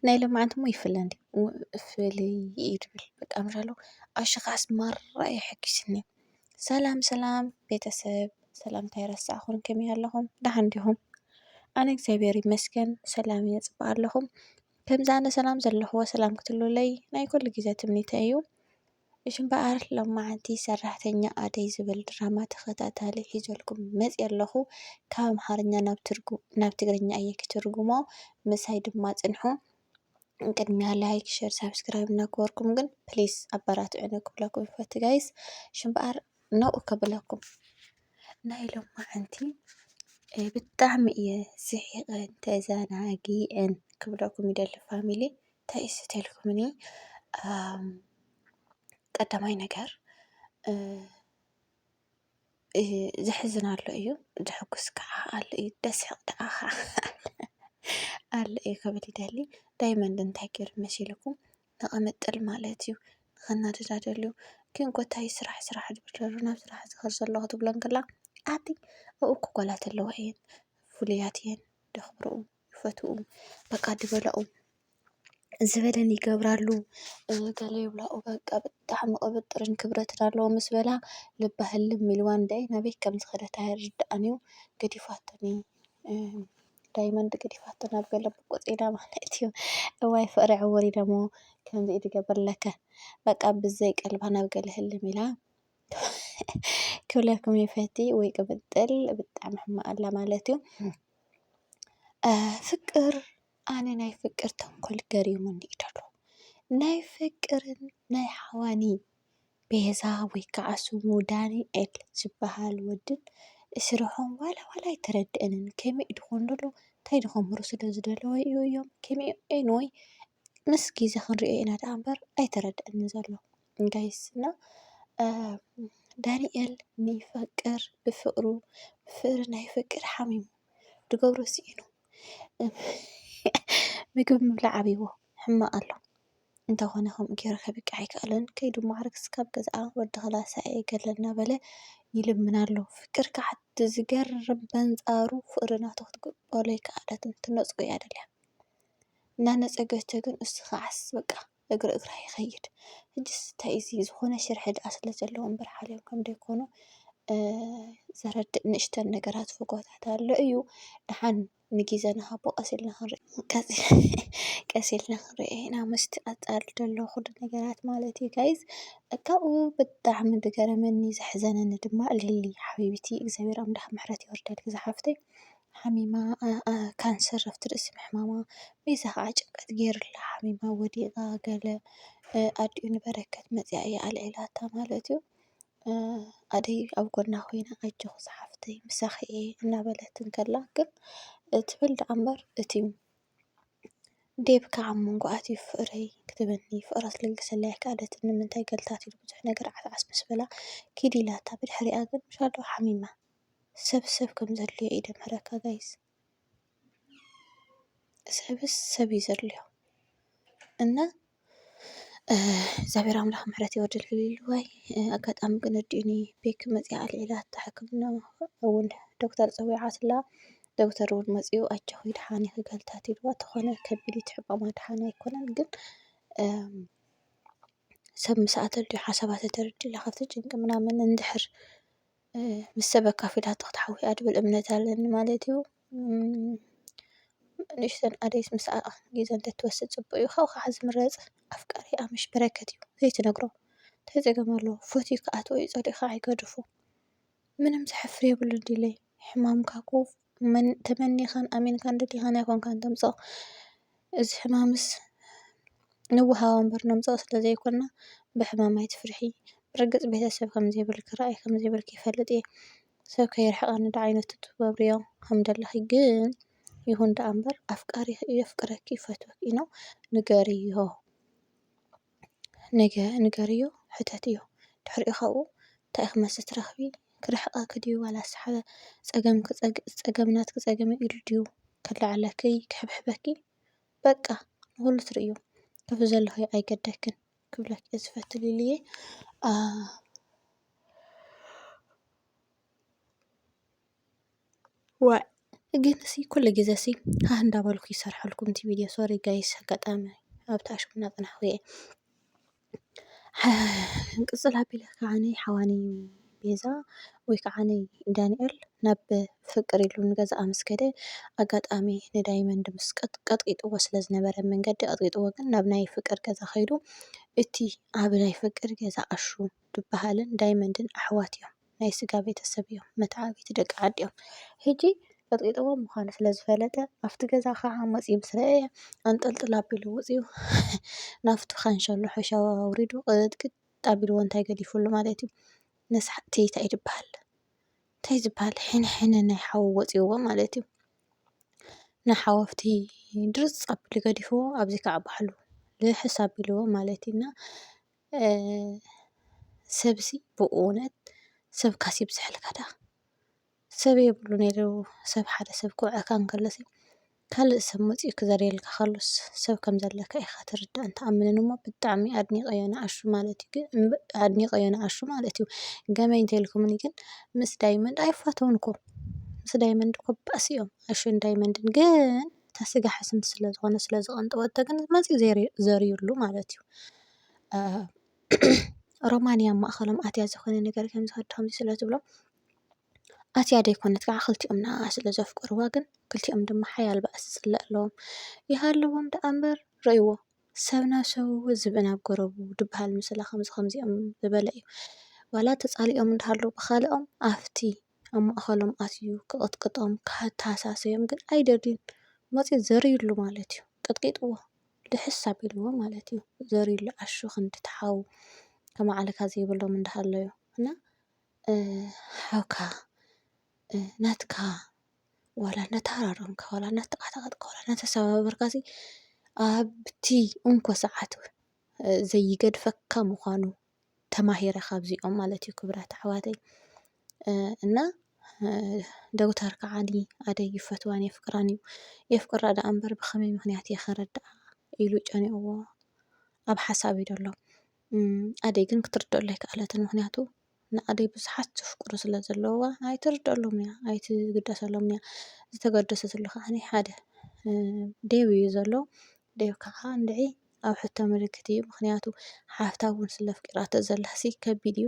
ናይ ሎምዓንቲ እሞ ይፍለ እንዴ ፍልይ እዩ ዝብል በቃ ምሻለው ኣሽኻስ ማራ እዩ ኣሐጊሱኒ ሰላም ሰላም ቤተሰብ ሰላምታ ኣይረሳዕኹን ከመይ ኣለኹም ዳሓን ዲኹም ኣነ እግዚኣብሔር ይመስገን ሰላም እየ ፅባሕ ኣለኹም ከምዚ ኣነ ሰላም ዘለኽዎ ሰላም ክትህልዉለይ ናይ ኩሉ ግዜ ትምኒተይ እዩ። እሺ እምበኣር ሎማዓንቲ ሰራሕተኛ ኣደይ ዝብል ድራማ ተኸታታሊ ሒዘልኩም መጽየ ኣለኹ ካብ ኣምሓርኛ ናብ ትግርኛ እየ ክትርጉሞ ምሳይ ድማ ጽንሑ ቅድሚያ ላይክ ሸር ሳብስክራይብ እናገበርኩም ግን ፕሊስ ኣበራትዑኒ ክብለኩም ይፈቱ ጋይስ እሺ እምበኣር ነኡ ከብለኩም ናይ ሎማዓንቲ ብጣዕሚ እየ ስሒቐን ተዘናጊዐን ክብለኩም ይደሊ ፋሚሊ ተኢስትልኩምኒ ቀዳማይ ነገር ዘሕዝን ኣሎ እዩ ዘሐጉስ ከዓ ኣሎ እዩ ደስሕ ደኣ ኸዓ ኣሎ እዩ ከብል ይደሊ ዳይመንድ እንታይ ገይሩ መሲልኩም ንቐመጥል ማለት እዩ ንኸናድዳ ደልዩ ግን ጎታይ ስራሕ ስራሕ ድብለሉ ናብ ስራሕ ዝኸር ዘሎ ክትብሎ እንክላ ኣቲ ኣብኡ ክጓላት ኣለዋ እየን ፍሉያት እየን ደኽብርኡ ይፈትውኡ በቃ ድበላኡ ዝበለን ይገብራሉ ገለ ይብላኡ በቃ ብጣዕሚ ቅብጥርን ክብረትን ኣለዎ ምስ በላ ልባ ህልም ኢልዋ እንድዒ ናበይ ከም ዝኸደት ኣይርድኣን እዩ ገዲፋትኒ ዳይመንድ ገዲፋቶ ናብ ገለ ብቁፅ ኢላ ማለት እዩ እዋይ ፍቕሪ ዕውር ኢለ እሞ ከምዚ ድገብር ለከ በቃ ብዘይ ቀልባ ናብ ገለ ህልም ኢላ ክብለኩም ይፈቲ ወይ ቅብጥል ብጣዕሚ ሕማቅ ኣላ ማለት እዩ። ፍቅር ኣነ ናይ ፍቅር ተንኮል ገሪሙኒ እዩ ደሎ ናይ ፍቅርን ናይ ሓዋኒ ቤዛ ወይ ከዓ ስሙ ዳኒኤል ዝበሃል ወድን ስርሖም ዋላ ዋላ ኣይተረደኣንን ከመይ እዩ ድኾን ደሎ እንታይ እዩ ድኾን ክገብሩ ስለ ዝደለዉ እዮም ከመይ እዮም ኤኒወይ ምስ ግዜ ክንሪኦ ኢና ደኣ እምበር ኣይተረደኣንን ዘሎ። ጋይስ እና ዳንኤል ንይፈቅር ብፍቅሩ ብፍቅሪ ናይ ፍቅር ሓሚሙ ድገብሮ ስኢኑ ምግብ ምብላዕ ኣብዎ ሕማቅ ኣሎ እንተኾነ ከምኡ ገይሩ ከብቅዕ ኣይከኣለን ከይዱ ማዕርግ ስካብ ገዝኣ ወዲ ክላሳ እየ ገለ እናበለ ይልምን ኣሎ ፍቅር ከዓ ዝገርም በንፃሩ ፍቅሪ ናቱ ክትቅበሎ ኣይከኣለትን ትነፅጎ እያ ደልያ እናነፀገቶ ግን እሱ ከዓስ በቃ እግሪ እግራ ይኸይድ። ሕጅስ እንታይ እዚ ዝኾነ ሽርሒ ድኣ ስለ ዘለዎ እምበር ሓልዮም ከም ደይኮኑ ዘረድእ ንእሽተን ነገራት ፍጎታት ኣሎ እዩ። ድሓን ንጊዘ ንሃቦ ቀስ ኢልና ክንሪኦ ቀስ ኢልና ክንሪኦ ኢና ምስቲ ቀጻሊ ዘሎ ኩሉ ነገራት ማለት እዩ ጋይዝ። ካብኡ ብጣዕሚ ዝገረመኒ ዘሕዘነኒ ድማ ሊሊ ሓቢቢቲ እግዚኣብሔር ኣምላኽ ምሕረት የውርደልኪ ዝሓፍተይ። ሓሚማ ካንሰር ኣብቲ ርእሲ ምሕማማ በይዛ ኸዓ ጭንቀት ገይሩላ ሓሚማ ወዲቓ ገለ ኣዲኡ ንበረከት መፂኣ እያ ኣልዒላታ ማለት እዩ። ኣደይ ኣብ ጎና ኮይና ኣጆኺ ዝሓፍተይ ምሳኺ እየ እናበለት እንከላ ግን ትብል ደኣ እምበር እቲ ዴቭ ከዓ ኣብ መንጎ ኣትዩ ፍቕረይ ክትብለኒ ፍቕራ ክትልግሰለይ ኣይከኣለትን ንምንታይ ገለ እንተትይሉ ብዙሕ ነገር ዓትዓስ ምስ በላ ኪድ ኢላታ ብድሕሪኣ ግን ሓሚማ። ሰብ ሰብ ከም ዘድልዮ እዩ ደምሃረካ ጋይስ ሰብስ ሰብ እዩ ዘድልዮ እና እግዚኣብሔር ኣምላኽ ምሕረት የወርድልዋይ ኣጋጣሚ ግን እዲኒ ቤኪ መፅያ ኣልዒላታ ሕክምና እውን ዶክተር ፀዊዓትላ ዶክተር እውን መፅኡ ኣጆኺ ድሓን ኢኺ ገልታት ኢልዋ ተኾነ ከቢድ እቲ ሕማማ ድሓን ኣይኮነን ግን ሰብ ምስኣ ተልዩ ሓሳባት ተርድላ ካብቲ ጭንቂ ምናምን እንድሕር ምስ ሰብ ኣካፊላቶ ክትሓዊ እያ ዝብል እምነት ኣለኒ ማለት እዩ። ንእሽተን ኣደይስ ምስኣ ግዜ እንተትወስድ ፅቡቅ እዩ። ካብኡ ከዓ ዝምረፅ ኣፍቃሪ ኣምሽ በረከት እዩ ዘይትነግሮ እንታይ ፀገም ኣለዎ ፈትዩ ክኣትዎ እዩ ፀሊእካ ኣይገድፎ ምንም ዘሕፍር የብሉን ዲለይ ሕማምካ እኮ። ተመኒኻን ኣሚንካን ደሊኻን ኣይኮንካን ተምጽኦ እዚ ሕማምስ ንወሃቦ እምበር ነምጽኦ ስለ ዘይኮና ብሕማም ኣይትፍርሒ ብርግጽ ቤተሰብ ከም ዘይብልኪ ራኢ ከም ዘይብልኪ ይፈልጥ እየ ሰብ ከይርሕቀኒ ዳኣ ዓይነት ትገብርዮ ከም ዘለኺ ግን ይኹን ዳኣ እምበር ኣፍቃሪኺ እዩ የፍቅረኪ ይፈትወኪ ኢሉ ንገርዮ። ነገ ንገርዮ ሕተትዮ ድሕሪኡ ካብኡ ታይ ኢኪ መልሲ ትረክቢ ክርሕቀኪ ድዩ ዋላስ ሓደ ፀገምኪ ፀገም ናትኪ ፀገም እዩ ኢሉ ድዩ ክላዓዓለኪ ክሕብሕበኪ በቃ ንኩሉ ትርእዩ ካብዚ ዘለክዮ ኣይገደክን ክብለኪ እየ ዝፈቲ ሊሊየ ዋእ ግን ሲ ኩሉ ግዜ ሲ ሃህ እንዳበልኩ ይሰርሓልኩም እቲ ቪድዮ ሶሪ ጋይስ ኣጋጣሚ ኣብቲ ኣሽሙ እናጸናሕኩ እየ። ቅጽል ኣቢለ ከዓኒ ሓዋኒ ቤዛ ወይ ከዓኒ ዳንኤል ናብ ፍቅር ኢሉ ንገዝኣ ምስ ከደ ኣጋጣሚ ንዳይመንድ ምስ ቀጥቂጥዎ ስለ ዝነበረ መንገዲ ቀጥቂጥዎ ግን ናብ ናይ ፍቅር ገዛ ከይዱ እቲ ኣብ ናይ ፍቅር ገዛ ኣሹ ዝበሃልን ዳይመንድን ኣሕዋት እዮም። ናይ ስጋ ቤተሰብ እዮም መተዓብይቲ ደቂ ዓዲ እዮም ሕጂ ቀጥቂጥዎ ምዃኑ ስለ ዝፈለጠ ኣብቲ ገዛ ኸዓ መፂኡ ምስ ረኣየ ኣንጠልጥል ኣቢሉ ወፂኡ ናብቲ ካንሸሎ ሐሸዋ ኣውሪዱ ቅጥቅጥ ኣቢልዎ እንታይ ገዲፍሉ ማለት እዩ ነስሓት እንታይ ትበሃል እንታይ ዝበሃል ሕንሕነ ናይ ሓዊ ወፂዎ ማለት እዩ ንሓወፍቲ ድርፅ ኣቢሉ ገዲፍዎ ኣብዚ ከዓ ባዕሉ ልሕስ ኣቢልዎ ማለት እዩ እና ሰብሲ ብእውነት ሰብካስ ይብዝሓልካ ደኣ ሰብ የብሉ ነይሩ ሰብ ሓደ ሰብ ክውዕኣካ እንከሎሲ ካልእ ሰብ መጺኡ ክዘርየልካ ከሎስ ሰብ ከም ዘለካ ኢኻ ትርዳእን ትኣምንን እሞ ብጣዕሚ ኣድኒቐዮ ንኣሹ ማለት እዩ ግን ኣድኒቐዮ ንኣሹ ማለት እዩ ገመይ እንተልኩምኒ ግን ምስ ዳይመንድ ኣይፋተዉን እኮ ምስ ዳይመንድ እኮ ባእሲ እዮም ኣሹን ዳይመንድን ግን እታ ስጋ ሕስምቲ ስለ ዝኾነት ስለ ዝቐንጠወቶ ግን መፂኡ ዘሪሩሉ ማለት እዩ። ሮማን እያ ኣብ ማእኸሎም ኣትያ ዝኾነ ነገር ከምዚ ወዲ ከምዚ ስለ ትብሎም ኣትያ ዘይኮነት ከዓ ክልቲኦም ንዓኣ ስለ ዘፍቅርዋ ግን ክልቲኦም ድማ ሓያል ባእሲ ዝፅለ ኣለዎም። ይሃልዎም ደኣ እምበር ርእይዎ ሰብ ናብ ሰብ እዉን ዝብኢ ናብ ጎረቡ ዝብሃል ምስላ ከምዚ ከምዚኦም ዝበለ እዩ። ዋላ ተፃሊኦም እንዳሃለዉ ብካልኦም ኣፍቲ ኣብ ማእኸሎም ኣትዩ ክቕጥቅጦም ክተሃሳስዮም ግን ኣይደልዩን። መፂኡ ዘርዩሉ ማለት እዩ። ቀጥቂጥዎ ልሕስ ኣቢልዎ ማለት እዩ። ዘርዩሉ ዓሹ ክንዲ እቲ ሓው ከማዕልካ ዘይብሎም እንዳሃለዩ እና ሓውካ ናትካ ዋላ እናተሃራረምካ ዋላ እናተቓታቐጥካ ዋላ እናተሰባበርካሲ ኣብቲ እንኮ ሰዓት ዘይገድፈካ ምዃኑ ተማሂረ ካብዚኦም ማለት እዩ ክብራት ኣሕዋተይ እና ደጉተር ከዓኒ ኣደይ ይፈትዋን የፍቅራን እዩ የፍቅራ ደኣ እምበር ብኸመይ ምክንያት እየ ከረድኣ ኢሉ ጨኒቕዎ ኣብ ሓሳብ እዩ ዘሎ ኣደይ ግን ክትርድአሉ ኣይከኣለትን ምክንያቱ ንኣደይ ብዙሓት ዘፍቅሩ ስለ ዘለውዋ ኣይትርድአሎም እያ ኣይትግደሰሎም እያ ዝተገደሰትሉ ከዓኒ ሓደ ደብ እዩ ዘሎ ዴቭ ካዓ እንድዒ ኣብ ሕቶ ምልክት እዩ ምክንያቱ ሓፍታ እውን ስለ ኣፍቂራቶ ዘላሲ ከቢድ እዩ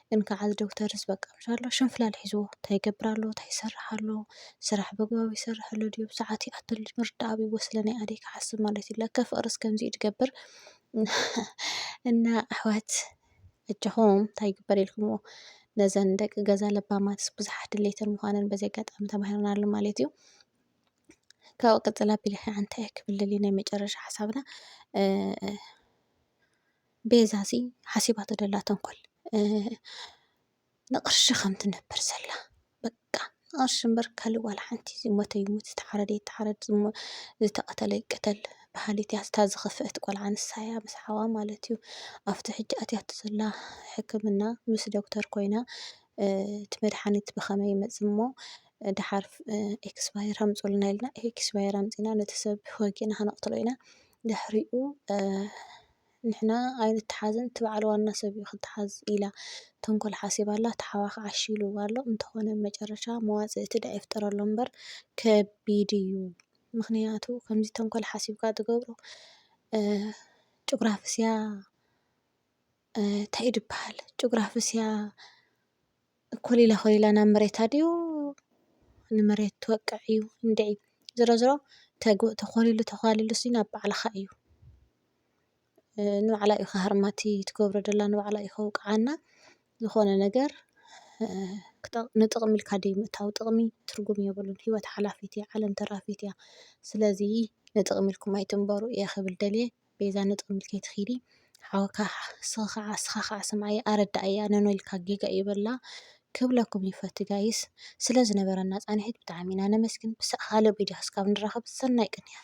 ግን ካዓ እዚ ዶክተርስ በቃ ምስ ኣሎ ሽንፍላል ሒዝዎ ታይ ይገብር ኣሎ ታይ ይሰርሕ ኣሎ ስራሕ በግባቡ ይሰርሕ ኣሎ ድዩ ብሳዓቱ ይኣቱ ኣሎ ድዩ ምርዳእ ኣብይዎ ስለ ናይ ኣደይ ካሓስብ ማለት እዩ ለከ ፍቅርስ ከምዚ እዩ ድገብር እና ኣሕዋት ኣጆኹም ታይ ይግበር ኢልኩምዎ ነዘን ደቂ ገዛ ለባማትስ ብዙሓት ድሌተን ምዃነን በዚ ኣጋጣሚ ተማሂርናሉ ማለት እዩ ካብኡ ቀፅል ኣቢለ ከዓ እንታይ እየ ክብል ደልየ ናይ መጨረሻ ሓሳብና ቤዛ እዚ ሓሲባቶ ዘላ ተንኮል ንቅርሺ ከም ትነብር ዘላ በቃ ንቅርሺ እምበር ካሊእ ዋላ ሓንቲ ዝሞተ ይሙት ዝተሓረደ ይተሓረድ ዝተቀተለ ይቀተል በሃሊት እያ እታ ዝከፈአት ቆልዓ ንሳ እያ ምስ ሓዋ ማለት እዩ ኣብቲ ሕጂ ኣትያቶ ዘላ ሕክምና ምስ ዶክተር ኮይና እቲ መድሓኒት ብከመይ ይመፅእ እሞ ደሓር ኤክስፓየር ኣምፁልና ኢልና ኤክስፓየር ኣምፂና ነቲ ሰብ ወጊእና ከነቕትሎ ኢና። ድሕሪኡ ንሕና ኣይንተሓዝን እቲ በዓል ዋና ሰብ እዩ ክተሓዝ ኢላ ተንኮል ሓሲባ ኣላ። እቲ ሓዋ ከዓ እሺ ኢልዋ ኣሎ። እንተኾነ መጨረሻ መዋፅእ እቲ ደኣ ይፍጠረሉ እምበር ከቢድ እዩ። ምኽንያቱ ከምዚ ተንኮል ሓሲብካ ትገብሮ ጭጉራፍስያ እንታይ እዩ ዝበሃል ጭጉራፍስያ ኮሊላ ኮሊላ ናብ መሬታ ድዩ ንመሬት ትወቅዕ እዩ እንድዒ ዝሮ ዝሮ ተኾሊሉ ተዃሊሉ ሲ ናብ ባዕልኻ እዩ ንባዕላ እዩ ክሃርማ እቲ ትገብሮ ዘላ ንባዕላ እዩ ከውቅዓና ዝኾነ ነገር ንጥቕሚ ኢልካ ድዩ ምእታው ጥቕሚ ትርጉም የብሉን ሂወት ሓላፊት እያ ዓለም ተራፊት እያ ስለዚ ንጥቕሚ ኢልኩም ኣይትንበሩ እየ ክብል ደልየ። ቤዛ ንጥቕሚ ኢልኪ ትኺዲ ሓውካ ስኺ ካዓ ስኻ ካዓ ስምዓያ ኣረዳኣያ ኖኖ ኢልካ ጌጋ እዩ በላ ክብለኩም ይፈቲ ጋይስ ስለ ዝነበረና ፃኒሒት ብጣዕሚ ኢና ነመስግን ብካልእ ቪድዮ እስካብ ንራኸብ ሰናይ ቅንያት።